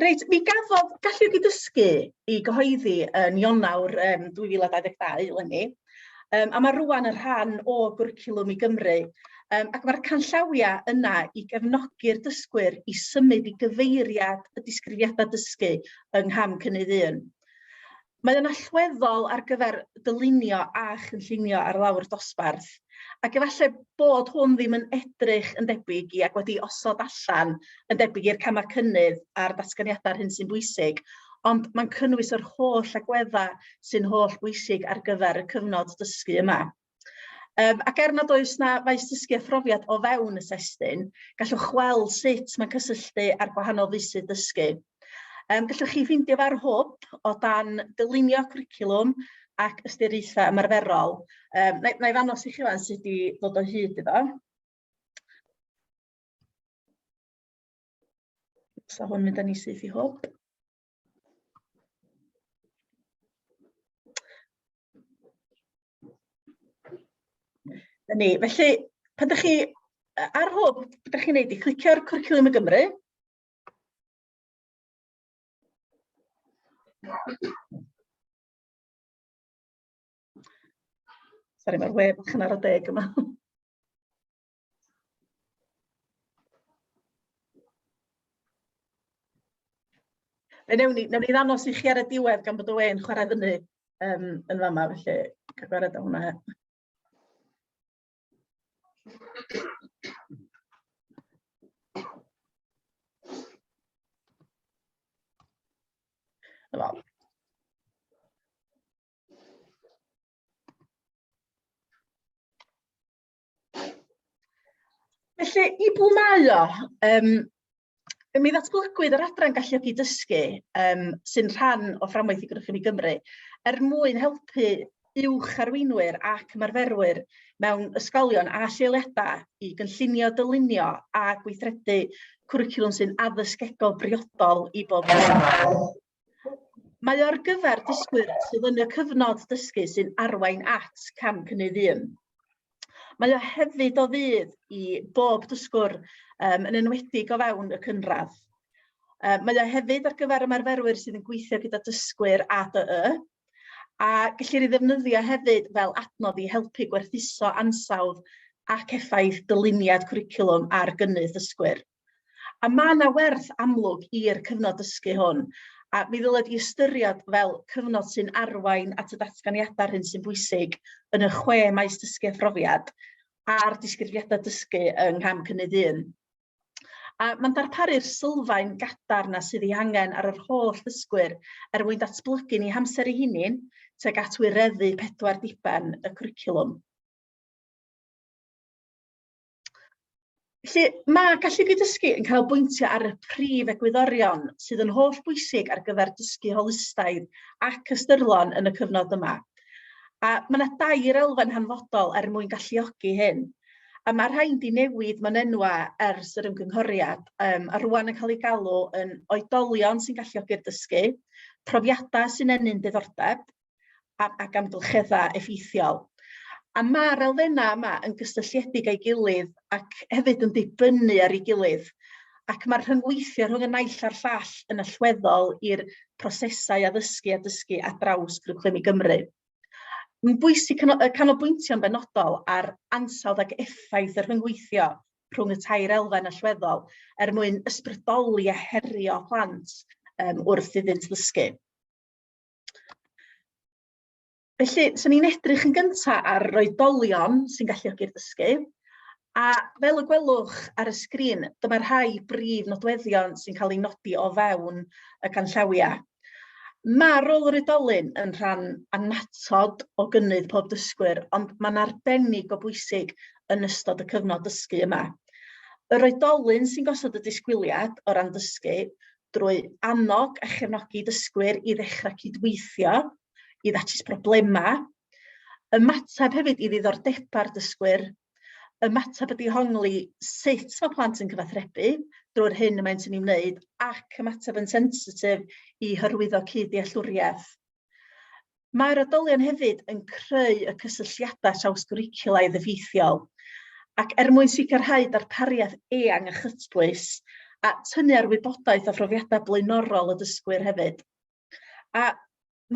Reit, mi gafodd galluogi dysgu i gyhoeddi yn Ionawr um, 2022 eleni, um, a mae rwan yn rhan o gwricwlwm i Gymru, um, ac mae'r canllawiau yna i gefnogi'r dysgwyr i symud i gyfeiriad y disgrifiadau dysgu yng ngham cynnydd un. Mae o'n allweddol ar gyfer dylunio a chynllunio ar lawr dosbarth, ac efallai bod hwn ddim yn edrych yn debyg i ac wedi osod allan yn debyg i'r camau cynnydd a'r datganiadau ar hyn sy'n bwysig, ond mae'n cynnwys yr holl agweddau sy'n holl bwysig ar gyfer y cyfnod dysgu yma. Um, ac er nad oes na faes dysgu a phrofiad o fewn y testyn, gallwch weld sut mae'n cysylltu â'r gwahanol feysydd dysgu. Um, gallwch chi ffeindio fa'r hwb o dan dylunio cwricwlwm ac ystyriaethau ymarferol. Um, na, na i ddanos i chi fan sydd wedi dod o hyd iddo. So hwn mynd â ni syth i hwb. Na ni. Felly, pan dych chi yy ar hwn, be' 'dach chi'n neud 'di clicio ar Cwricwlwm i Gymru. Sori ma'r we bach yn ara deg yma. Fe newn ni, newn ni ddanos i chi ar y diwedd gan bod y we'n chwarae fyny um, yn fama, felly cyfwerod o hwnna. Wel, Felly, i bwy mae o? Um, mi ddatblygwyd yr adran galluogi dysgu um, sy'n rhan o fframwaith i Grwchyn i Gymru er mwyn helpu uwch arweinwyr ac ymarferwyr mewn ysgolion a lleoliadau i gynllunio, dylunio a gweithredu cwricwlwm sy'n addysgegol briodol i bob person. Mae o'r gyfer dysgwyr sydd yn y cyfnod dysgu sy'n arwain at cam cynnydd un. Mae o hefyd o fydd i bob dysgwr um, yn enwedig o fewn y cynradd. Uh, mae o hefyd ar gyfer ymarferwyr sydd yn gweithio gyda dysgwyr ADY, a gellir ei ddefnyddio hefyd fel adnodd i helpu gwerthuso ansawdd ac effaith dyluniad cwricwlwm ar gynnydd dysgwyr. A mae yna werth amlwg i'r cyfnod dysgu hwn, a mi ddyled di ystyried fel cyfnod sy'n arwain at y datganiadau hyn sy'n bwysig yn y chwe maes dysgu a phrofiad a'r disgrifiadau dysgu yng ngham cynnydd un. A mae'n darparu'r sylfaen gadarn na sydd ei angen ar yr holl ddysgwyr er mwyn datblygu ni hamser ei hunin tuag at wireddu pedwar diben y cwricwlwm. Felly, mae gallu dysgu yn canolbwyntio ar y prif egwyddorion sydd yn holl bwysig ar gyfer dysgu holistaidd ac ystyrlon yn y cyfnod yma. A mae yna dair elfen hanfodol er mwyn galluogi hyn. A mae rhain di newid mewn enwa ers yr ymgynghoriad, um, a rwan yn cael ei galw yn oedolion sy'n galluogi'r dysgu, profiadau sy'n ennyn diddordeb, ac amgylcheddau effeithiol. A mae'r elfennau yma yn gysylltiedig â'i gilydd ac hefyd yn dibynnu ar ei gilydd, ac mae'r rhyngweithio rhwng y naill a'r llall yn allweddol i'r prosesau addysgu a dysgu ar draws cwricwlwm i Gymru. Mae'n bwysig canolbwyntio'n benodol ar ansawdd ac effaith y rhyngweithio rhwng y tair elfen allweddol er mwyn ysbrydoli a herio plant um, wrth iddynt ddysgu. Felly, swn i'n edrych yn gyntaf ar roedolion sy'n galluogi'r dysgu. A fel y gwelwch ar y sgrin, dyma rhai brif nodweddion sy'n cael ei nodi o fewn y canllawiau. Mae rôl yr oedolyn yn rhan annatod o gynnydd pob dysgwyr, ond mae'n arbennig o bwysig yn ystod y cyfnod dysgu yma. Yr oedolyn sy'n gosod y disgwyliad o ran dysgu, drwy annog a chefnogi dysgwyr i ddechrau cydweithio i ddatrys problemau, ymateb hefyd i ddiddordebau'r dysgwyr, ymateb y dihongli sut mae plant yn cyfathrebu drwy'r hyn y maent yn ei wneud ac ymateb yn sensitif i hyrwyddo cyd-dealltwriaeth. Mae'r addolion hefyd yn creu y cysylltiadau trawsgwricwlaidd effeithiol, ac er mwyn sicrhau darpariaeth eang a chytbwys, a tynnu ar wybodaeth a phrofiadau blaenorol y dysgwyr hefyd. A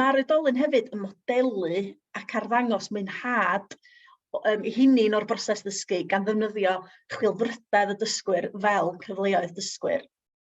mae'r oedolyn hefyd yn modelu ac arddangos mwynhad um, i hynny'n o'r broses ddysgu gan ddefnyddio chwilfrydedd y dysgwyr fel cyfleoedd dysgwyr.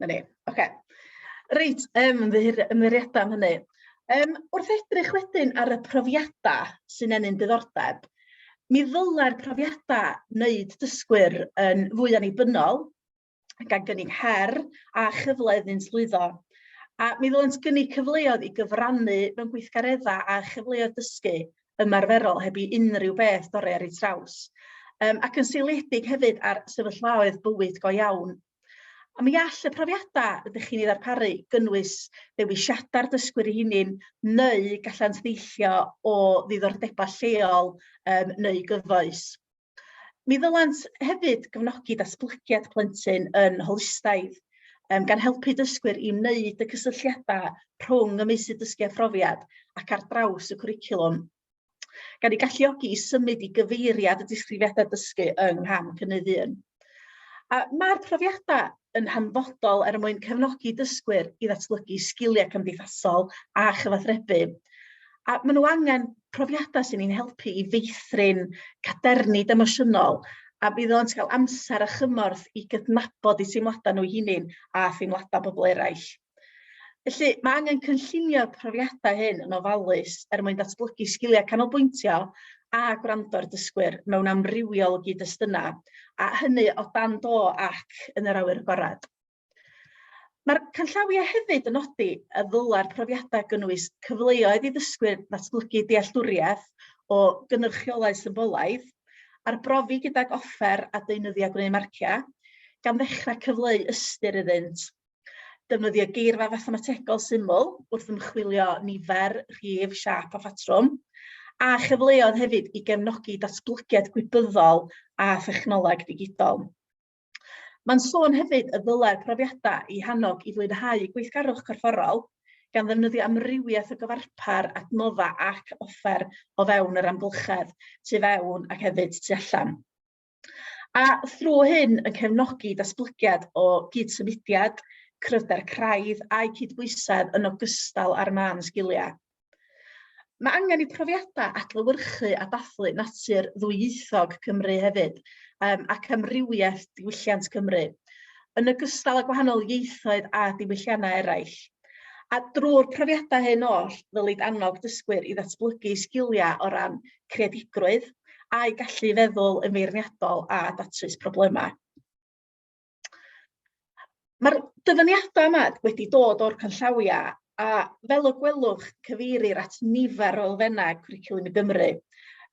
'Na ni. Ocê. Reit yym ymddiheurio ymddiheuriada am hynny. Yym wrth edrych wedyn ar y profiada sy'n ennyn diddordeb mi ddylai'r profiada wneud dysgwyr yn fwy annibynnol gan gynnig her a chyfle iddynt lwyddo. A mi ddylent gynnig cyfleoedd i gyfrannu mewn gweithgaredda a chyfleoedd dysgu ymarferol heb i unrhyw beth dorri ar ei traws. Yym ac yn seiliedig hefyd ar sefyllfaoedd bywyd go iawn A mi all y profiadau ydych chi'n ei ddarparu gynnwys dewisiadau'r dysgwyr ei hunin neu gallant ddeillio o ddiddordebau lleol um, neu gyfoes. Mi ddylant hefyd gefnogi datblygiad plentyn yn holistaidd, um, gan helpu dysgwyr i wneud y cysylltiadau rhwng y meysydd dysgu a phrofiad ac ar draws y cwricwlwm. gan ei galluogi i symud i gyfeiriad y disgrifiadau dysgu yng ngham cynnydd 1. A mae'r profiadau yn hanfodol er mwyn cefnogi dysgwyr i ddatblygu sgiliau cymdeithasol a chyfathrebu. A maen nhw angen profiadau sy'n ein helpu i feithrin caderni demosiynol a bydd o'n cael amser a chymorth i gydnabod i teimladau nhw hunain a theimladau pobl eraill. Felly, mae angen cynllunio'r profiadau hyn yn ofalus er mwyn datblygu sgiliau canolbwyntio a gwrando ar dysgwyr mewn amrywiol o gyd-destunau, a hynny o dan do ac yn yr awyr agored. Mae'r canllawiau hefyd yn nodi y ddylai'r profiadau gynnwys cyfleoedd i ddysgwyr ddatblygu dealltwriaeth o gynrychiolau symbolaidd, arbrofi gydag offer a deunyddiau gwneud marciau, gan ddechrau cyfleu ystyr iddynt. Defnyddia geirfa fathemategol syml wrth ymchwilio nifer, rhif, siap a phatrwm, a chyfleodd hefyd i gefnogi datblygiad gwybyddol a thechnoleg digidol. Mae'n sôn hefyd y ddylai'r profiadau i hannog i fwynhau gweithgarwch corfforol gan ddefnyddio amrywiaeth o gyfarpar, adnodda ac offer o fewn yr amgylchedd, tu fewn ac hefyd tu allan. A thrwy hyn yn cefnogi datblygiad o gyd-symudiad, cryfder craidd a'i cydbwysedd yn ogystal â'r mân sgiliau. Mae angen i profiadau adlewyrchu a dathlu natur ddwyieithog Cymru hefyd um, ac amrywiaeth diwylliant Cymru, yn ogystal â gwahanol ieithoedd a diwylliannau eraill. A drwy'r profiadau hyn oll, ddylid annog dysgwyr i ddatblygu sgiliau o ran creadigrwydd a'u gallu i feddwl yn feirniadol a datrys problemau. Mae'r dyfyniadau yma wedi dod o'r canllawiau a fel y gwelwch cyfeirir at nifer o elfennau cwricwlwm i Gymru.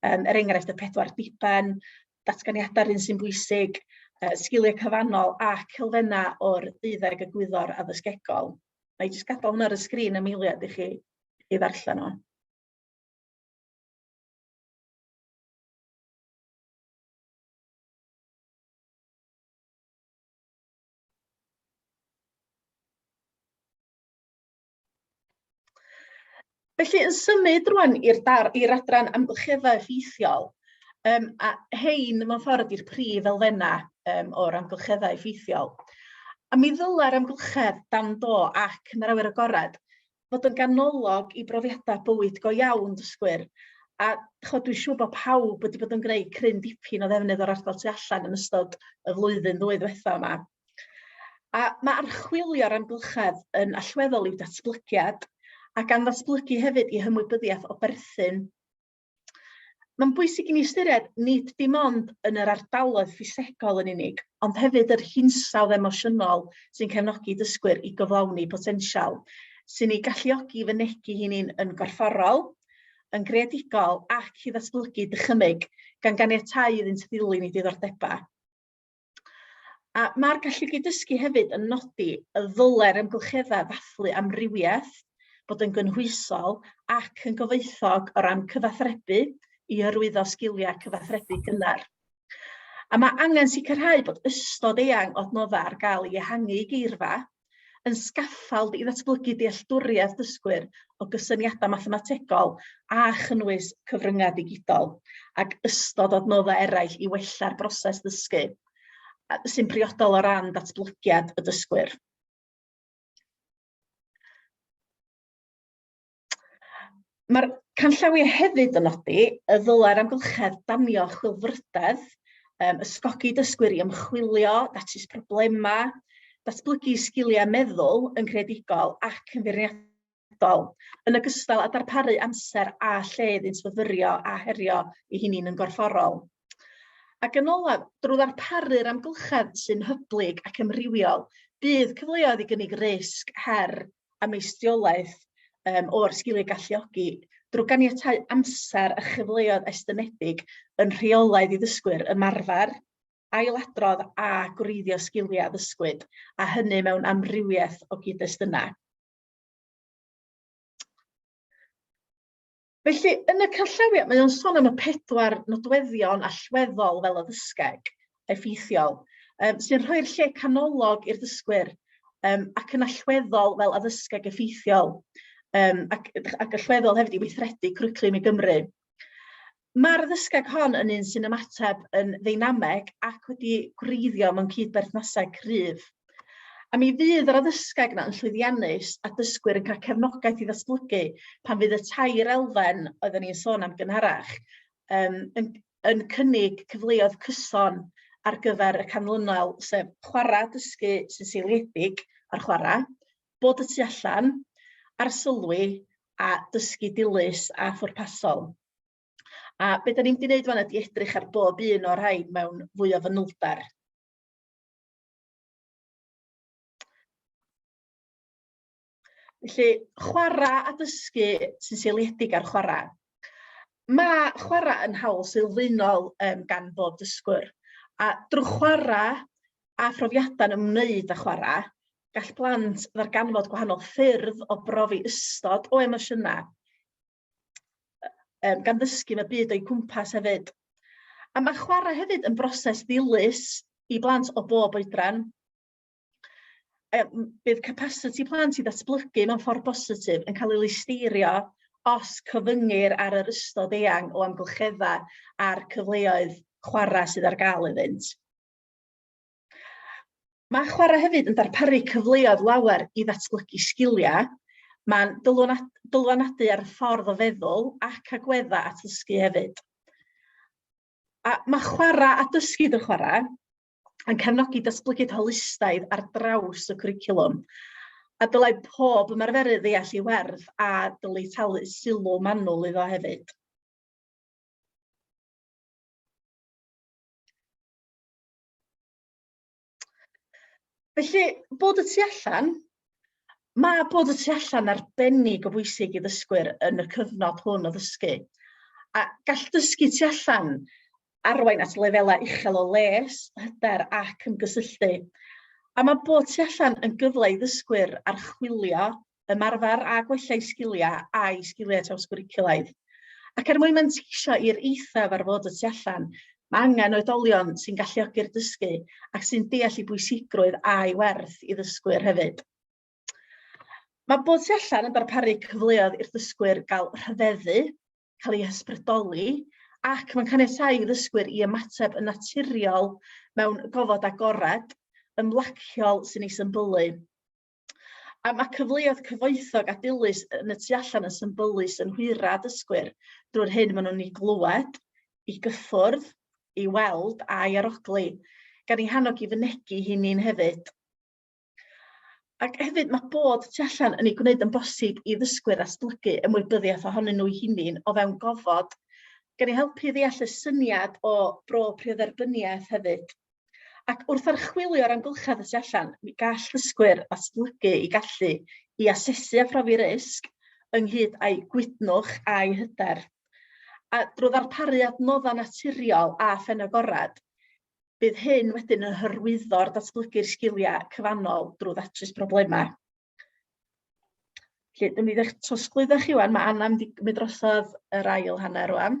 Um, er enghraifft y pedwar diben, datganiadau'r un sy'n bwysig, uh, sgiliau cyfannol ac elfennau o'r deuddeg y gwyddor addysgegol. Mae jyst gadael hwnna ar y sgrin am eiliad i chi i ddarllen o. Felly, yn symud rwan i'r dar- i'r adran amgylcheddau effeithiol, yym a rhein mewn ffordd ydy'r prif elfennau yym o'r amgylcheddau effeithiol. A mi ddyla'r amgylchedd dan do ac yn yr awyr agored fod yn ganolog i brofiadau bywyd go iawn dysgwyr a chod dwi'n siŵr bod pawb wedi bod yn gwneud cryn dipyn o ddefnydd o'r ardal tu allan yn ystod y flwyddyn ddwy ddwetha yma. A mae archwilio'r amgylchedd yn allweddol i'w datblygiad a gan ddatblygu hefyd i hymwybyddiaeth o berthyn Mae'n bwysig i ni ystyried nid dim ond yn yr ardaloedd ffisegol yn unig, ond hefyd yr hinsawdd emosiynol sy'n cefnogi dysgwyr i gyflawni potensial, sy'n ei galluogi i fynegi hynny'n yn gorfforol, yn greadigol ac i ddatblygu dychymyg, gan ganiatáu iddynt ddilyn eu diddordebau. A mae'r gallu gyd-dysgu hefyd yn nodi y ddylai'r amgylcheddau ddathlu amrywiaeth, bod yn gynhwysol ac yn gyfoethog o ran cyfathrebu i hyrwyddo sgiliau cyfathrebu cynnar. A mae angen sicrhau bod ystod eang o adnoddau ar gael i ehangu geirfa yn sgaffald i ddatblygu dealltwriaeth dysgwyr o gysyniadau mathemategol a chynnwys cyfryngau digidol ac ystod o adnoddau eraill i wella'r broses ddysgu sy'n briodol o ran datblygiad y dysgwyr. Mae'r canllawiau hefyd yn nodi y ddylai'r amgylchedd danio chwilfrydedd, um, ysgogi dysgwyr i ymchwilio, datrys problemau, datblygu sgiliau meddwl yn creadigol ac yn feirniadol, yn ogystal â darparu amser a lle iddynt fyfyrio a herio i hynny'n yn gorfforol. Ac yn olaf, drwy ddarparu'r amgylchedd sy'n hyblyg ac amrywiol, bydd cyfleoedd i gynnig risg, her a meistiolaeth um, o'r sgiliau galluogi drwy ganiatau amser a chyfleoedd estynedig yn rheolaidd i ddysgwyr ymarfer, ailadrodd a gwreiddio sgiliau ddysgwyd, a hynny mewn amrywiaeth o gyd-destunau. Felly, yn y canllawiau, mae o'n sôn am y pedwar nodweddion allweddol fel y ddysgeg, effeithiol, um, sy'n rhoi'r lle canolog i'r ddysgwyr um, ac yn allweddol fel addysgeg effeithiol um, ac, ac allweddol hefyd i weithredu cwriclum i Gymru. Mae'r ddysgeg hon yn un sy'n ymateb yn ddeinameg ac wedi gwreiddio mewn cyd-berthnasau cryf. A mi fydd yr addysgeg yna yn llwyddiannus a dysgwyr yn cael cefnogaeth i ddatblygu pan fydd y tair elfen oedden ni'n sôn am gynharach um, yn, yn cynnig cyfleoedd cyson ar gyfer y canlynol, sef chwarae dysgu sy'n seiliedig ar chwarae, bod y tu allan, ar sylwi a dysgu dilys a phwrpasol. A beth da ni'n mynd i wneud fan ydy edrych ar bob un o'r rhain mewn fwy o fanylder. Felly, chwarae a dysgu sy'n seiliedig ar chwarae. Mae chwarae yn hawl sylfaenol um, gan bob dysgwr, a drwy chwarae a phrofiadau'n ymwneud â chwarae, gall blant ddarganfod gwahanol ffyrdd o brofi ystod o emosiynau um, gan ddysgu fe byd o'i cwmpas hefyd. A mae chwarae hefyd yn broses ddilys i blant o bob oedran. Um, bydd capacity plant i ddatblygu mewn ffordd bositif yn cael ei listeirio os cyfyngir ar yr ystod eang o amgylcheddau a'r cyfleoedd chwarae sydd ar gael iddynt. Mae chwarae hefyd yn darparu cyfleoedd lawer i ddatblygu sgiliau. Mae'n dylanwadu ar y ffordd o feddwl ac agweddau at ddysgu hefyd. A mae chwarae a dysgu drwy chwarae yn cefnogi datblygiad holistaidd ar draws y cwricwlwm a dylai pob ymarferydd ddeall ei werth a dylai talu sylw manwl iddo hefyd. Felly, bod y tu allan, mae bod y tu allan arbennig o bwysig i ddysgwyr yn y cyfnod hwn o ddysgu. A gall dysgu tu allan arwain at lefelau uchel o les, hyder ac ymgysylltu. A mae bod tu allan yn gyfle i ddysgwyr archwilio ymarfer a gwella eu sgiliau a'u sgiliau trawsgwricwlaidd. Ac er mwyn manteisio i'r eithaf ar fod y tu allan, mae angen oedolion sy'n galluogi'r dysgu ac sy'n deall ei bwysigrwydd a'i werth i ddysgwyr hefyd. Mae bod tu allan yn darparu cyfleoedd i'r dysgwyr gael rhyfeddu, cael ei hysbrydoli, ac mae'n caniatáu i ddysgwyr i ymateb yn naturiol mewn gofod agored, ymlaciol sy'n ei symbylu. A mae cyfleoedd cyfoethog a dilys yn y tu allan yn symbylus yn hwyra dysgwyr drwy'r hyn maen nhw'n ei glywed, i gyffwrdd, i weld a'i arogli, gan ei hannog i fynegi hi ni'n hefyd. Ac hefyd mae bod tu allan yn ei gwneud yn bosib i ddysgwyr astulygu ymwybyddiaeth ohonyn nhw'i hunin o fewn gofod, gan ei helpu i ddeall y syniad o bro priodderbyniaeth hefyd. Ac wrth archwilio'r amgylchedd y tu allan, mi gall dysgwyr ddatblygu i gallu i asesu a phrofi risg ynghyd â'u gwydnwch a'u hyder. A drwy ddarparu adnoddau naturiol a phenagorad, bydd hyn wedyn yn hyrwyddo'r datblygu'r sgiliau cyfannol drwy ddatrys problemau. Felly, dyn ni ddech trosglwyddo chi wan, mae Anna mynd i gymryd drosodd yr ail hanner wan.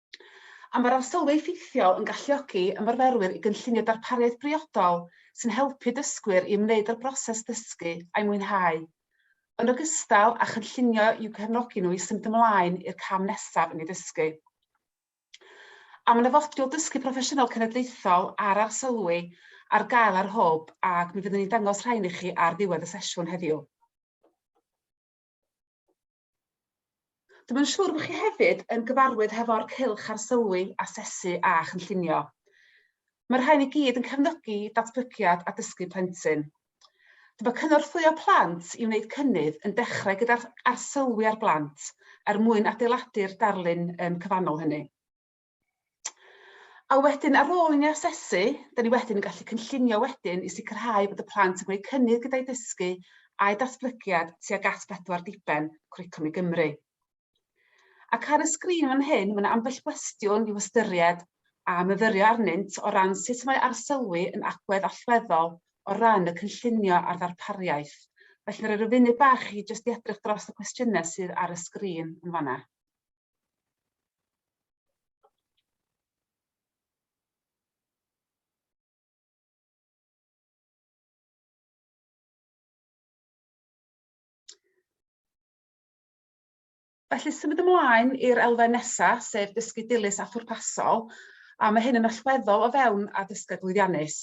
A mae'r arsylwi effeithiol yn galluogi ymarferwyr i gynllunio darpariaeth briodol sy'n helpu dysgwyr i ymwneud â'r broses ddysgu a'i mwynhau, yn ogystal â chynllunio i'w cefnogi nhw i symud ymlaen i'r cam nesaf yn eu dysgu. A mae 'na fodiwl Dysgu Proffesiynol Cenedlaethol a'r arsylwi ar gael ar Hwb ac mi fyddwn ni'n dangos rhain i chi ar ddiwedd y sesiwn heddiw. Dw i'n siŵr bod chi hefyd yn gyfarwydd hefo'r cylch arsylwi, asesu a chynllunio. Mae'r rhain i gyd yn cefnogi datblygiad a dysgu plentyn. Dw mae cynorthwyo plant i wneud cynnydd yn dechrau gyda'r arsylwi ar blant er mwyn adeiladu'r darlun cyfannol hynny. A wedyn ar ôl i ni asesu, dyn ni wedyn yn gallu cynllunio wedyn i sicrhau bod y plant yn gwneud cynnydd gyda'i dysgu a'i datblygiad tuag at bedwar diben Cwricwlwm i Gymru. Ac ar y sgrin fan hyn, mae yna ambell gwestiwn i'w ystyried a myfyrio arnynt o ran sut mae arsylwi yn agwedd allweddol o ran y cynllunio a'r ddarpariaeth. Felly mae rhoi rhyw funud bach i jyst i edrych dros y cwestiynau sydd ar y sgrin yn fanna. Felly symud ymlaen i'r elfen nesa, sef dysgu dilys a phwrpasol, a mae hyn yn allweddol o fewn addysgeg lwyddiannus.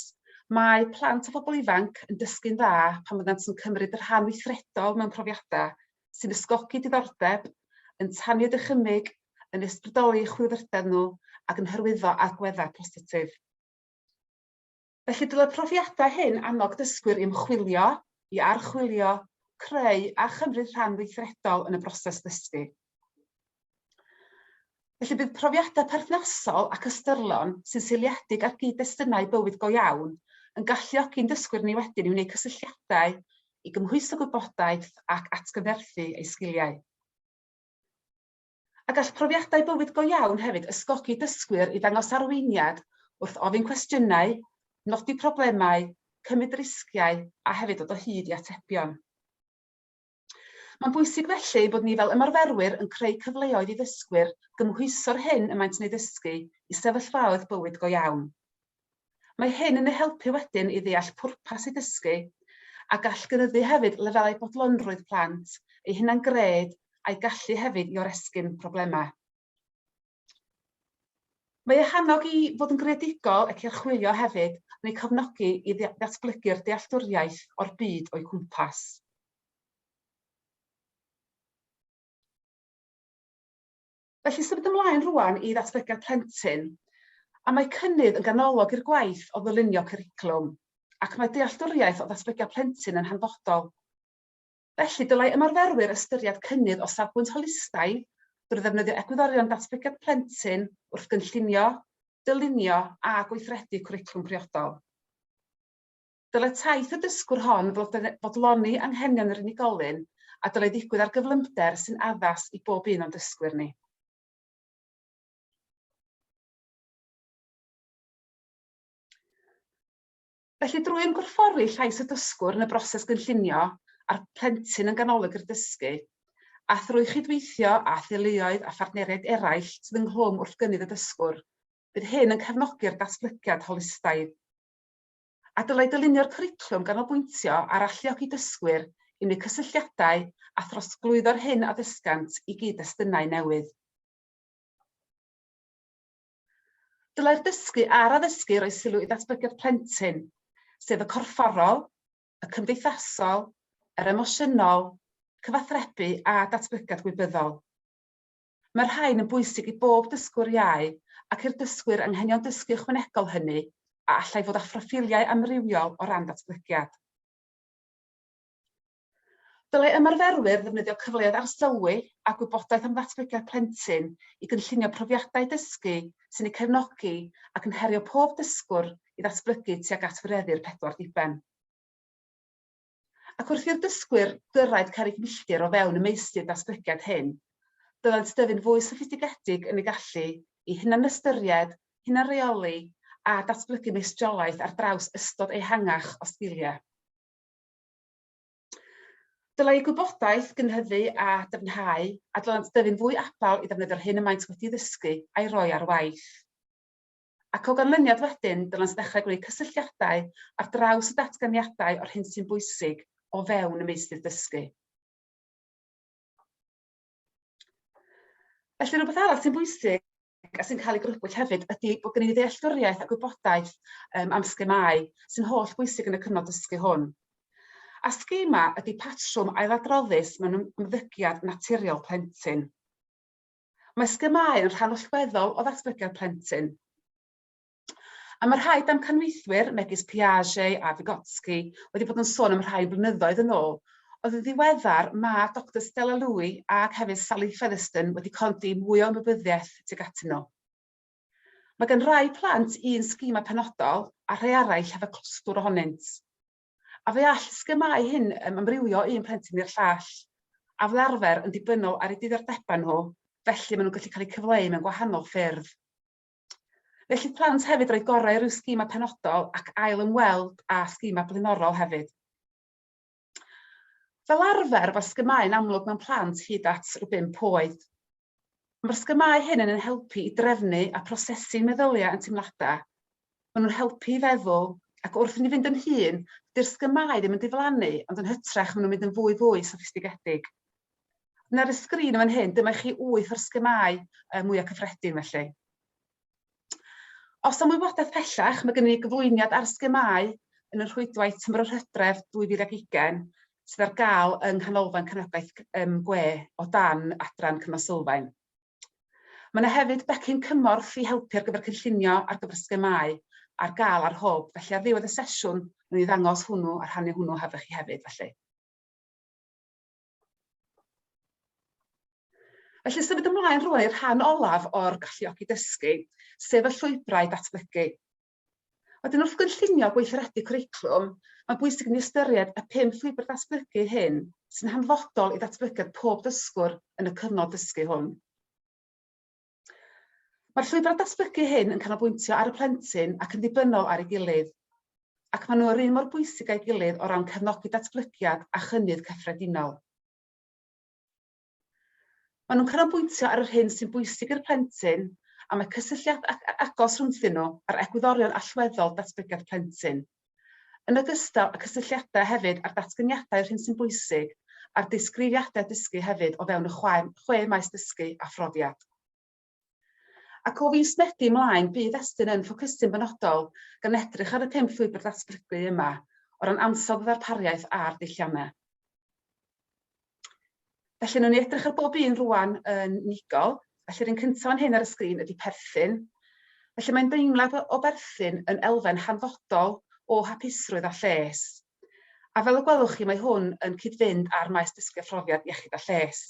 Mae plant a phobl ifanc yn dysgu'n dda pan fyddant yn cymryd rhan weithredol mewn profiadau, sy'n ysgogi diddordeb, yn tanio dychymyg, yn ysbrydoli chwilfrydedd nhw ac yn hyrwyddo agweddau positif. Felly dylai'r profiadau hyn annog dysgwyr i ymchwilio, i archwilio, creu a chymryd rhan weithredol yn y broses ddysgu. Felly bydd profiadau perthnasol ac ystyrlon sy'n seiliedig ar gyd-destunau bywyd go iawn yn galluogi ein dysgwyr ni wedyn i wneud cysylltiadau, i gymhwyso gwybodaeth ac atgyfnerthu eu sgiliau. A gall profiadau bywyd go iawn hefyd ysgogi dysgwyr i ddangos arweiniad wrth ofyn cwestiynau, nodi problemau, cymryd risgiau a hefyd dod o hyd i atebion. Mae'n bwysig felly ei bod ni fel ymarferwyr yn creu cyfleoedd i ddysgwyr gymhwyso'r hyn y maent yn ei ddysgu i sefyllfaoedd bywyd go iawn. Mae hyn yn eu helpu wedyn i ddeall pwrpas eu dysgu a gall gynyddu hefyd lefelau bodlonrwydd plant, eu hunan-gred a'u gallu hefyd i oresgyn problemau. Mae eu hannog i fod yn greadigol ac i archwilio hefyd yn eu cofnogi i ddatblygu'r dealltwriaeth o'r byd o'u cwmpas. Felly symud ymlaen rwan i ddatblygiad plentyn, a mae cynnydd yn ganolog i'r gwaith o ddylunio cwricwlwm, ac mae dealltwriaeth o ddatblygiad plentyn yn hanfodol. Felly, dylai ymarferwyr ystyried cynnydd o safbwynt holistaidd drwy ddefnyddio egwyddorion datblygiad plentyn wrth gynllunio, dylunio a gweithredu cwricwlwm priodol. Dylai taith y dysgwr hon fodloni anghenion yr unigolyn a dylai ddigwydd ar gyflymder sy'n addas i bob un o'n dysgwyr ni. Felly, drwy ymgorffori llais y dysgwr yn y broses gynllunio a'r plentyn yn ganolog i'r dysgu, a thrwy chydweithio â theuluoedd a phartneriaid eraill sydd ynghlwm wrth gynnydd y dysgwr, bydd hyn yn cefnogi'r datblygiad holistaidd. A dylai dylunio'r cwricwlwm ganolbwyntio ar alluogi dysgwyr i wneud cysylltiadau a throsglwyddo'r hyn a ddysgant i gyd-destunau newydd. Dylai'r dysgu a'r addysgu roi sylw i ddatblygiad plentyn, sef y corfforol, y cymdeithasol, yr emosiynol, cyfathrebu a datblygiad gwybyddol. Mae'r rhain yn bwysig i bob dysgwr iau ac i'r dysgwyr anghenion dysgu ychwanegol hynny a allai fod â phroffiliau amrywiol o ran datblygiad. Dylai ymarferwyr ddefnyddio cyfleoedd arsylwi a gwybodaeth am ddatblygiad plentyn i gynllunio profiadau dysgu sy'n eu cefnogi ac yn herio pob dysgwr i ddatblygu tuag at wireddu'r pedwar diben. Ac wrth i'r dysgwyr gyrraedd cerrig milltir o fewn y meysydd datblygiad hyn, byddant dyfu'n fwy soffistigedig yn eu gallu i hunanystyried, hunanreoli a datblygu meistriolaeth ar draws ystod ehangach o sgiliau. Dylai y gwybodaeth gynyddu a dyfnhau, a dylent dyfu'n fwy abal i ddefnyddio'r hyn y maent wedi ddysgu a'i roi ar waith. Ac o ganlyniad wedyn, dylent ddechrau gwneud cysylltiadau ar draws y datganiadau o'r hyn sy'n bwysig o fewn y meysydd dysgu. Felly, rhywbeth arall sy'n bwysig a sy'n cael ei grybwyll hefyd ydy bod gen i ddealltwriaeth a gwybodaeth um, am sgemau sy'n holl bwysig yn y cyfnod dysgu hwn. A sgema ydy patrwm ailadroddus mewn ymddygiad naturiol plentyn. Mae sgemau yn rhan allweddol o ddatblygiad plentyn. A mae rhai damcanweithwyr, megis Piaget a Vygotsky, wedi bod yn sôn am rhai blynyddoedd yn ôl, oedd yn ddiweddar mae Doctor Stella Louie ac hefyd Sally Featherston wedi codi mwy o ymwybyddiaeth tuag atyn nhw. Mae gan rai plant un sgema penodol a rhai arall hefo clwstwr ohonynt. A fe all y sgemau hyn um, amrywio un plentyn i'r llall, a fel arfer yn dibynol ar eu diddordebau nhw, felly maen nhw'n gallu cael eu cyfleu mewn gwahanol ffyrdd. Felly plant hefyd roedd gorau rhyw sgima penodol ac ail ymweld â sgima blaenorol hefyd. Fel arfer, mae'r sgymau'n amlwg mewn plant hyd at rhyw 5 oed. Mae'r sgymau hyn yn ein helpu i drefnu a prosesu meddyliau yn teimladau. Maen nhw'n helpu i feddwl, ac wrth i ni fynd yn hyn, dy'r sgymau ddim yn diflannu, ond yn hytrach maen nhw'n mynd yn fwy fwy soffistigedig. Yn ar y sgrin yn fan hyn, dyma i chi wyth o'r sgemau uh, mwyaf cyffredin felly. Os am wybodaeth pellach, mae gennym ni gyflwyniad ar sgemau yn y rhwydwaith tymor yr hydref 2020 sydd ar gael yng Nghanolfan Cefnogaeth um, Gwe o dan adran Cynnal Sylfaen. Mae yna hefyd becyn cymorth i helpu ar gyfer cynllunio ar gyfer sgemau ar gael ar hwb, felly ar ddiwedd y sesiwn, rwy'n ddangos hwnnw a rhannu hwnnw hefo chi hefyd, felly. Felly symud ymlaen rwan i'r rhan olaf o'r galluogi dysgu, sef y llwybrau datblygu. Wedyn wrth gynllunio gweithredu cwricwlwm, mae'n bwysig ni ystyried y pum llwybr datblygu hyn sy'n hanfodol i ddatblygiad pob dysgwr yn y cyfnod dysgu hwn. Mae'r llwybrau datblygu hyn yn canolbwyntio ar y plentyn ac yn ddibynnol ar ei gilydd, ac maen nhw yr un mor bwysig â'i gilydd o ran cefnogi datblygiad a chynnydd cyffredinol. Maen nhw'n canolbwyntio ar yr hyn sy'n bwysig i'r plentyn a mae cysylltiad agos rhwngthyn nhw a'r egwyddorion allweddol datblygiad plentyn. yn ogystal â cysylltiadau hefyd â'r datganiadau yr hyn sy'n bwysig a'r disgrifiadau dysgu hefyd o fewn y chwe, chwe maes dysgu a phrofiad. Ac o fis Medi ymlaen, bydd Estyn yn ffocysu'n benodol gan edrych ar y pum llwybr datblygu yma, o ran ansawdd y ddarpariaeth a'r dulliannau. Felly, newn ni edrych ar bob un rwan yn unigol. Felly, rhywun cyntaf fan hyn ar y sgrin ydy perthyn. Felly, mae'n deimlad o, o berthyn yn elfen hanfodol o hapusrwydd a lles. A fel y gwelwch chi, mae hwn yn cyd-fynd â'r maes dysgu a phrofiad iechyd a lles.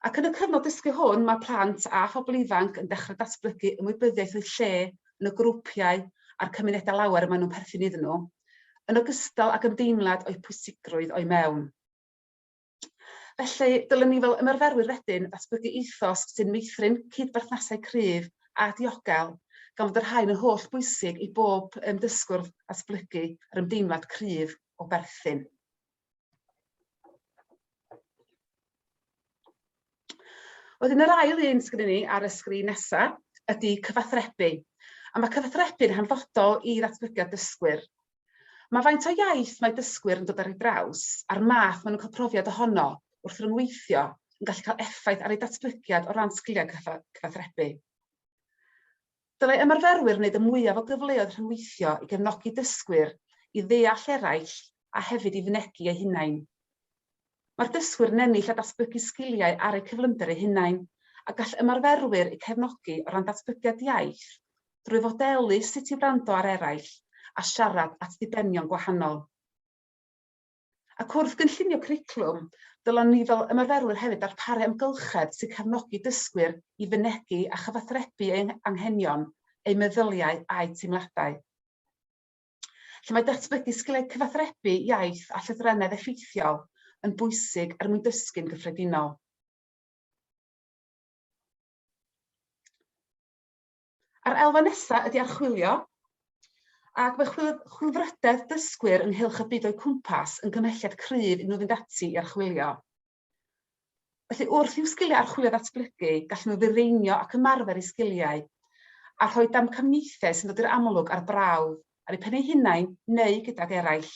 Ac yn y cyfnod dysgu hwn, mae plant a phobl ifanc yn dechrau datblygu ymwybyddiaeth o'u lle yn y grwpiau a'r cymunedau lawer y maen nhw'n perthyn iddyn nhw, yn ogystal ag ymdeimlad o'u pwysigrwydd o'u mewn. Felly, dylem ni fel ymarferwyr wedyn ddatblygu ethos sy'n meithrin cyd-berthnasau cryf a diogel, gan fod y rhain yn holl bwysig i bob dysgwr ddatblygu yr ymdeimlad cryf o berthyn. Wedyn yr ail un sgynny ni ar y sgrin nesa ydy cyfathrebu. A mae cyfathrebu'n hanfodol i ddatblygiad dysgwyr. Mae faint o iaith mae dysgwyr yn dod ar ei draws a'r math maen nhw'n cael profiad ohono wrth ryngweithio yn gallu cael effaith ar ei datblygiad o ran sgiliau cyfathrebu. Dylai ymarferwyr wneud y mwyaf o gyfleoedd rhyngweithio i gefnogi dysgwyr i ddeall eraill a hefyd i fynegi eu hunain. Mae'r dysgwyr yn ennill a datblygu sgiliau ar eu cyflymder eu hunain, a gall ymarferwyr eu cefnogi o ran datblygiad iaith drwy fodelu sut i wrando ar eraill a siarad at ddibenion gwahanol. Ac wrth gynllunio cwricwlwm, dylem ni fel ymarferwyr hefyd ddarparu amgylchedd sy'n cefnogi dysgwyr i fynegi a chyfathrebu eu hanghenion, eu meddyliau a'u teimladau. Lle mae datblygu sgiliau cyfathrebu, iaith a llythrennedd effeithiol yn bwysig er mwyn dysgu'n gyffredinol. A'r elfen nesaf ydy archwilio, ac mae chwilfrydedd dysgwyr ynghylch y byd o'u cwmpas yn gymhelliad cryf i nhw fynd ati i archwilio. Felly, wrth i'w sgiliau archwilio ddatblygu, gallen nhw ddifeinio ac ymarfer eu sgiliau, a rhoi damcaniaethau sy'n dod i'r amlwg ar brawf, ar eu pen eu hunain neu gydag eraill.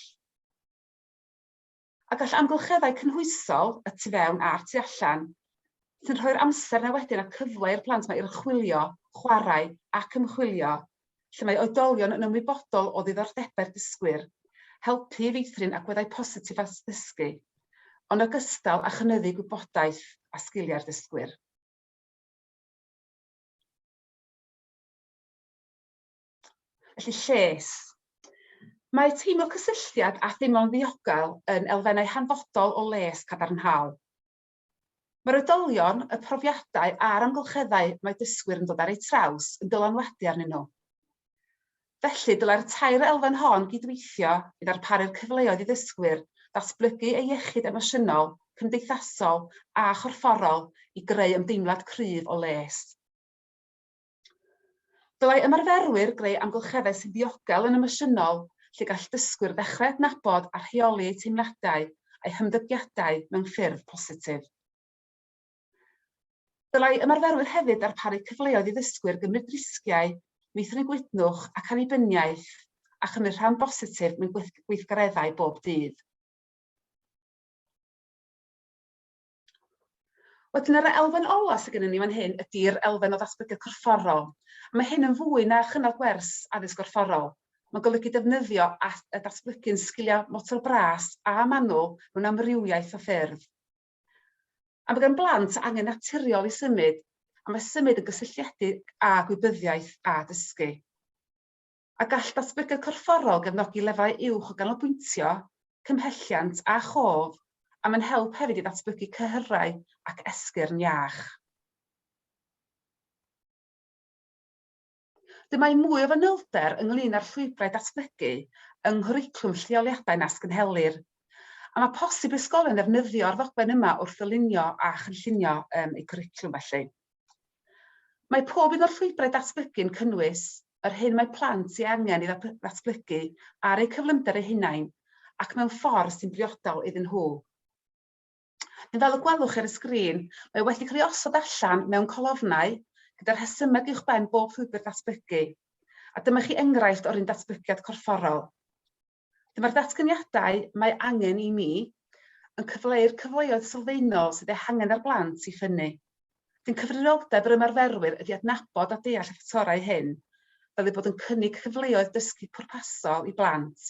a gall amgylcheddau cynhwysol, y tu fewn a'r tu allan, sy'n rhoi'r amser 'na wedyn a'r cyfle i'r plant 'ma i archwilio, chwarae ac ymchwilio, lle mae oedolion yn ymwybodol o ddiddordebau'r dysgwyr, helpu i feithrin agweddau positif at ddysgu, yn ogystal â chynyddu gwybodaeth a sgiliau'r dysgwyr. Felly, lles. Mae teimlo cysylltiad a theimlo'n ddiogel yn elfennau hanfodol o les cadarnhaol. Mae'r oedolion, y profiadau a'r amgylcheddau mae dysgwyr yn dod ar eu traws yn dylanwadu arnyn nhw. Felly, dylai'r tair elfen hon gydweithio i ddarparu'r cyfleoedd i ddysgwyr ddatblygu ei iechyd emosiynol, cymdeithasol a chorfforol i greu ymdeimlad cryf o les. Dylai ymarferwyr greu amgylcheddau sy'n ddiogel yn emosiynol lle gall dysgwyr ddechrau adnabod a rheoli eu teimladau a'u hymddygiadau mewn ffyrdd positif. Dylai ymarferwyr hefyd ddarparu cyfleoedd i ddysgwyr gymryd risgiau, meithrin gwytnwch ac annibyniaeth, a chymryd rhan bositif mewn gweithgareddau bob dydd. Wedyn yr elfen ola sydd gennym ni fan hyn ydy'r elfen o ddatblygiad corfforol. Mae hyn yn fwy na chynnal gwers addysg gorfforol. Mae'n golygu defnyddio a datblygu'n sgiliau motor bras a manwl mewn amrywiaeth o ffyrdd. A mae gan blant angen naturiol i symud, a mae symud yn gysylltiedig â gwybyddiaeth a dysgu. a gall datblygiad corfforol gefnogi lefydd uwch o ganolbwyntio, cymhelliant a chof, a mae'n help hefyd i ddatblygu cyhyrau ac esgyrn iach. Dyma i mwy o fanylder ynglŷn â'r llwybrau datblygu yng nghwricwlwm lleoliadau nas gynhelir, a mae posib i ysgolion ddefnyddio'r ddogfen yma wrth ddylunio a chynllunio eu cwricwlwm felly. Mae pob un o'r llwybrau datblygu yn cynnwys yr hyn mae plant ei angen i ddatblygu ar eu cyflymder eu hunain ac mewn ffordd sy'n briodol iddyn nhw. Neu fel y gwelwch ar y sgrin, mae wedi cael ei osod allan mewn colofnau gyda rhesymeg uwchben bob llwybr datblygu, a dyma chi enghraifft o'r un datblygiad corfforol. Felly mae'r datganiadau mae angen i ni yn cyfleu'r cyfleoedd sylfaenol sydd eu hangen ar blant i ffynnu. Felly'n cyfrifoldeb yr ymarferwyr ydy adnabod a deall y ffactorau hyn fel eu bod yn cynnig cyfleoedd dysgu pwrpasol i blant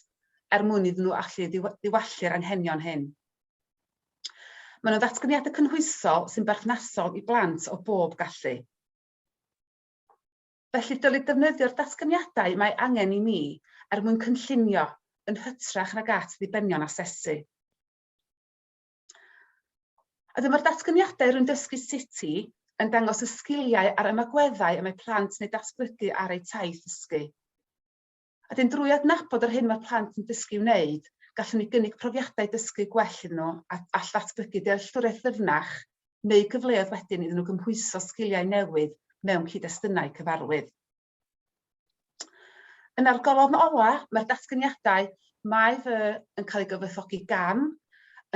er mwyn iddyn nhw allu ddiwallu'r anghenion hyn. Mae'n nhw'n ddatganiadau cynhwysol sy'n berthnasol i blant o bob gallu. Felly, dylid defnyddio'r datganiadau mae angen i ni er mwyn cynllunio, yn hytrach nag at ddibenion asesu. A dyma'r datganiadau rwy'n dysgu sut i yn dangos y sgiliau a'r ymagweddau y mae plant yn eu datblygu ar eu taith ddysgu. A wedyn drwy adnabod yr hyn mae'r plant yn dysgu i'w wneud, gallwn ni gynnig profiadau dysgu gwell iddyn nhw a all ddatblygu dealltwriaeth ddyfnach neu gyfleoedd wedyn iddyn nhw gymhwyso sgiliau newydd mewn cyd-destunau cyfarwydd. Yn ar golofn ola, mae'r datganiadau mae fy yn cael ei gyfoethogi gan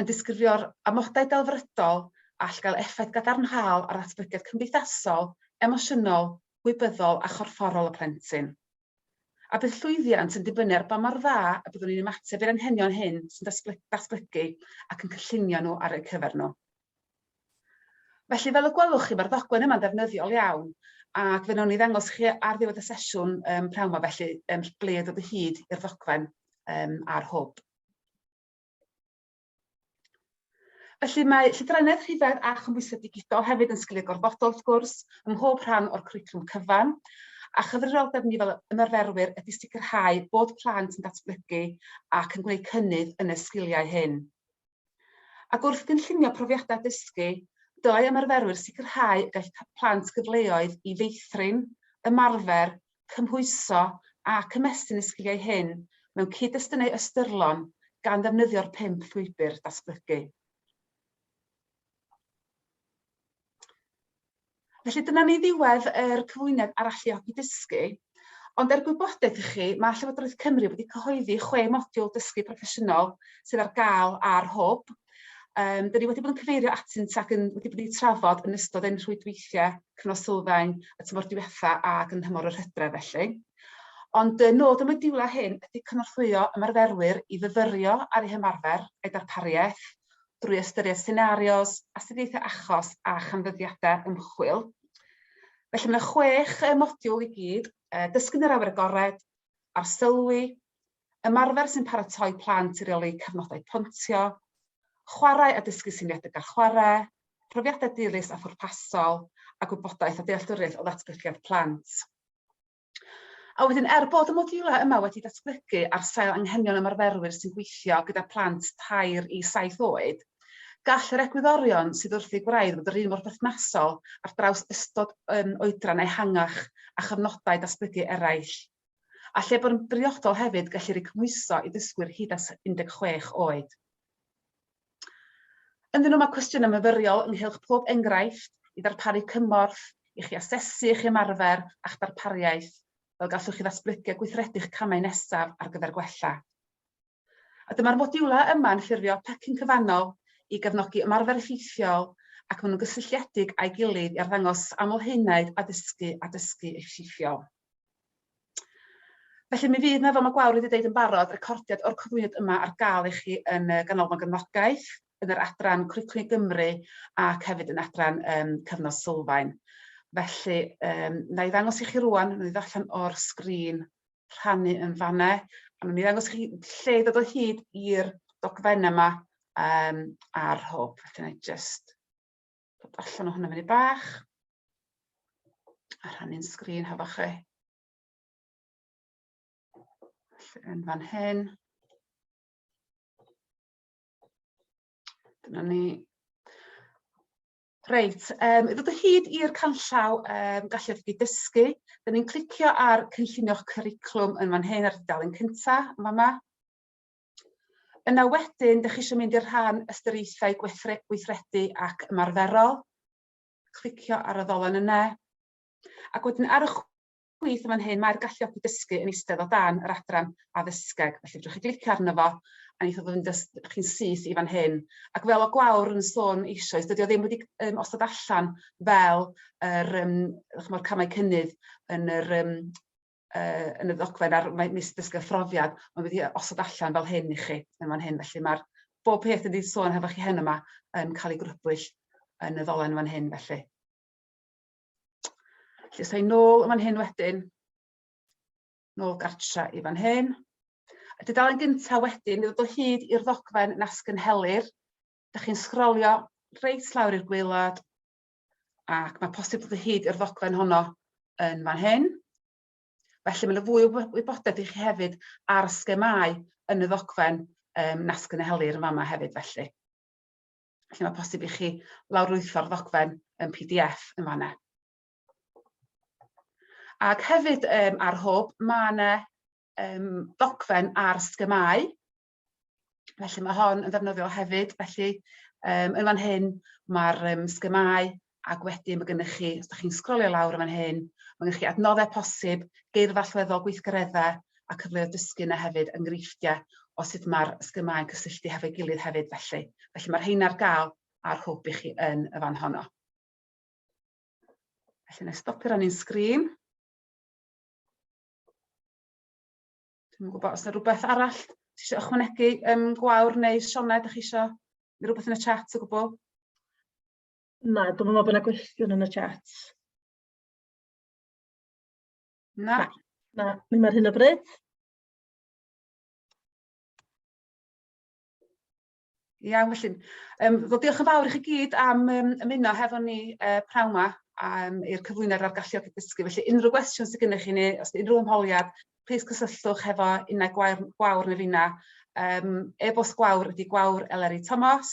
yn disgrifio'r amodau delfrydol a all gael effaith gadarnhaol ar ddatblygiad cymdeithasol, emosiynol, gwybyddol a chorfforol y plentyn. A bydd llwyddiant yn dibynnu ar ba mor dda y byddwn ni'n ymateb i'r anghenion hyn sy'n datblygu ac yn cynllunio nhw ar eu cyfer nhw. Felly, fel y gwelwch chi, mae'r ddogfen yma'n ddefnyddiol iawn, ac fe wnawn ni ddangos chi ar ddiwedd y sesiwn um, prawn yma, felly um, ble dod o hyd i'r ddogfen um, a'r hwb. Felly mae llythrennedd rhifedd a chymhwysedd digidol hefyd yn sgiliau gorfodol wrth gwrs ym mhob rhan o'r cwricwlwm cyfan, a chyfrifoldeb ni fel ymarferwyr ydy sicrhau bod plant yn datblygu ac yn gwneud cynnydd yn y sgiliau hyn. Ac wrth gynllunio profiadau dysgu, dylai ymarferwyr sicrhau y gall plant gyfleoedd i feithrin, ymarfer cymhwyso ac ymestyn y sgiliau hyn mewn cyd-destunau ystyrlon gan ddefnyddio'r pump llwybr datblygu. Felly dyna ni ddiwedd yr cyflwyniad ar alluogi dysgu. Ond er gwybodaeth i chi, mae Llywodraeth Cymru wedi cyhoeddi chwe modiwl dysgu proffesiynol sydd ar gael ar hwb Um, dyn ni wedi bod yn cyfeirio atynt ac yn, wedi bod yn trafod yn ystod ein rhwydweithiau cyfnod sylfaen y tymor diwetha ac yn hymor yr hydref felly. Ond y nod y modiwlau hyn ydy cynorthwyo ymarferwyr i fyfyrio ar eu hymarfer a'i darpariaeth drwy ystyried senarios, astudiaethau achos a chanfyddiadau ymchwil. Felly mae yna chwech modiwl i gyd, dysgu'n yr awyr agored, arsylwi, ymarfer sy'n paratoi plant i reoli cyfnodau pontio, chwarae a dysgu syniadau a chwarae, profiadau dilys a phwrpasol, a gwybodaeth a dealltwriaeth o ddatblygiad plant. A wedyn, er bod y modiwlau yma wedi datblygu ar sail anghenion ymarferwyr sy'n gweithio gyda plant tair i saith oed, gall yr egwyddorion sydd wrth eu gwraidd fod yr un mor berthnasol ar draws ystod oedran ehangach a chyfnodau datblygu eraill. a lle bod yn briodol hefyd gallu rhoi cymhwyso i ddysgwyr hyd at 16 oed. Ynddyn nhw mae cwestiynau myfyriol ynghylch pob enghraifft i ddarparu cymorth i chi asesu eich ymarfer a'ch darpariaeth fel gallwch chi ddatblygu a gweithredu'ch camau nesaf ar gyfer gwella. A dyma'r modiwlau yma'n ffurfio pecyn cyfannol i gefnogi ymarfer effeithiol ac maen nhw'n gysylltiedig â'i gilydd i arddangos aml-haenaid addysgu a dysgu effeithiol. Felly mi fydd yna, fel mae Gwawr wedi dweud yn barod, recordiad o'r cyflwyniad yma ar gael i chi yn y Ganolfan Gefnogaeth, yn yr adran Cwricwlwm i Gymru ac hefyd yn adran um, Cyfnod Sylfaen. Felly, um, na i ddangos i chi rwan, nhw'n i ddarllen o'r sgrin rhannu yn fan 'na. A wnawn ni ddangos chi lle i ddod o hyd i'r dogfennau yma um, ar hwb. Felly, na i just dod allan o hwnna fyny bach a rhannu'n sgrin hefo chi. Felly, yn fan hyn. Dyna ni. Reit, um, i ddod o hyd i'r canllaw um, galluogi dysgu, dyn ni'n clicio ar cynllunio'ch cwriclwm yn fan hyn ar dudalen cyntaf, yn fama. Yna wedyn, dych chi eisiau mynd i'r rhan ystyriaethau gweithredu ac ymarferol. Clicio ar y ddolen yna. Ac wedyn ar y chwith yn fan hyn, mae'r galluogi dysgu yn eistedd o dan yr adran addysgeg, felly fedrwch chi glicio arno fo a neith o fynd â chi'n syth i fan hyn. Ac fel o Gwawr yn sôn eisoes, dydy o ddim wedi um, osod allan fel yr, um, chymod, camau cynnydd yn yr um, uh, yn y ddogfen ar mis dysgu phrofiad, mae wedi osod allan fel hyn i chi yn fan hyn. Felly mae'r bob peth yn wedi sôn hefo chi hen yma yn cael ei grybwyll yn y ddolen fan hyn felly. Felly, sa'i nôl yn fan hyn wedyn, nôl gartra i fan hyn. Y dudalen gyntaf wedyn, i ddod o hyd i'r ddogfen nasgynhelir, ydych chi'n sgrolio reit lawr i'r gweilad, ac mae posib dod o hyd i'r ddogfen honno yn fan hyn. Felly mae'n fwy o wybodaeth i chi hefyd ar y sgemau yn y ddogfen um, nasgynhelir yn fama hefyd felly. Felly mae posib i chi lawrlwytho'r ddogfen yn PDF yn fanna. Ac hefyd um, ar hwb, mae yna um, ddogfen ar sgymau. Felly mae hon yn ddefnyddiol hefyd. Felly um, yn fan hyn mae'r um, sgymau ac wedyn mae gennych chi, os da chi'n sgrolio lawr yn fan hyn, mae gennych chi adnoddau posib, geirfa allweddol, gweithgareddau a cyfleoedd dysgu yna hefyd, enghreifftiau o sut mae'r sgymau'n cysylltu hefo'i gilydd hefyd felly. Felly mae'r rheina ar gael ar hwb i chi yn y fan honno. Felly na stopio ran i'n sgrin. Dwi'n gwybod os yna rhywbeth arall ti eisiau ychwanegu um, gwawr neu Sioned, ydych chi eisiau rhywbeth yn y chat o gwbl? Na, dwi'm yn meddwl bod 'na gwestiwn yn y chat. Na. Na, ddim ar hyn o bryd. Iawn felly. Yym wel diolch yn fawr i chi gyd am yym ymuno hefo ni yy pnawn 'ma a yym i'r cyflwyniad ar galluogi dysgu. Felly unrhyw gwestiwn sy gynnych chi neu os 'di unrhyw ymholiad, plîs cysylltwch hefo Unai Gwair- Gwawr ne' finna'. Yym e-bost Gwawr ydi gwawr@eleri.tomos.